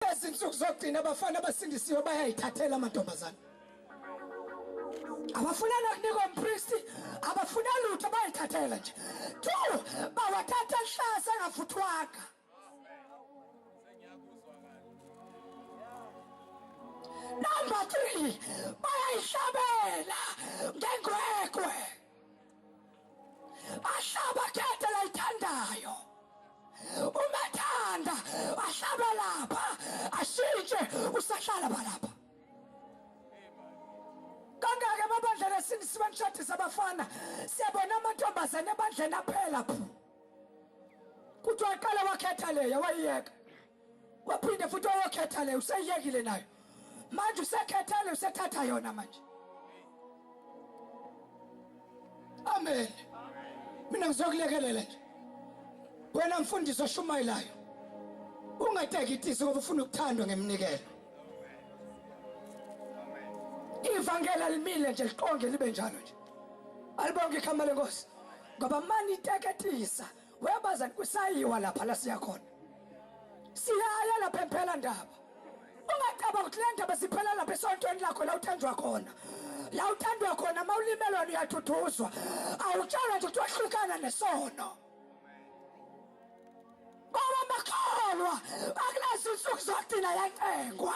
Ezinsuku zokugcina abafana abasindisiwe bayayithathela amantombazane. Abafuna nokunikwa umpristi, abafuna lutho bayithathela nje. Tu bawathatha hlase ngafuthwaka. Number 3 bayayihlabela ngengwekwe. ahlaba khethe layithandayo umathanda ahlaba lapha ashintshe usahlala balapha kangake amabandlela sini sibanishadisa abafana siyabona amantombazane ebandleni aphela phu kuthiwa aqala wakhetha leya wayiyeka waphinde futhi oyokhetha le useyekile nayo manje usekhetha le usethatha yona manje amen mina ngizokulekelela nje wena mfundisi oshumayelayo ungatekitisi ngoba ufuna ukuthandwa ngemnikelo ivangeli alimile nje liqonge libe njalo nje alibonke ikhama lenkosi ngoba mani iteketisa Webazani kusayiwa lapha la siya khona. Siyaya lapha emphela ndaba. Ungacabanga ukuthi le ndaba siphela lapha esontweni lakho la uthenjwa khona. La uthandwa khona mawulimelwa uyathuthuzwa. Awutshalwa nje ukuthi wahlukana nesono. Baba makholwa akulezi insuku zodina yacengwa.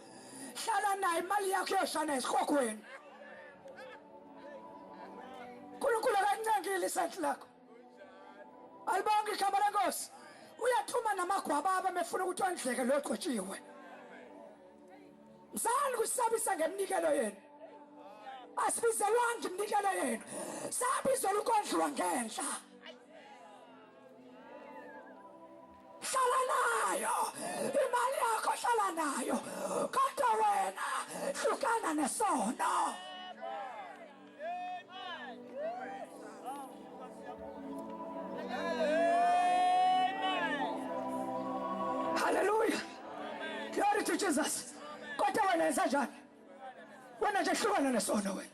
hlala naye imali yakho yoshana esikhokweni nkulunkulu akancengile isenti lakho alibonke ikhamba lenkosi uyathuma namagwababa mefuna ukuthi ondleke lo gcotshiwe mzali kusabisa ngeminikelo yenu asibizelwanga iminikelo yenu sabizela ukondliwa ngenhla hlala nayo imali yakho hlala nayo kodwa wena hlukana nesono haleluya glory to jesus kodwa wena yenza njani wena nje hlukana nesono wena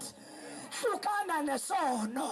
hlukana nesono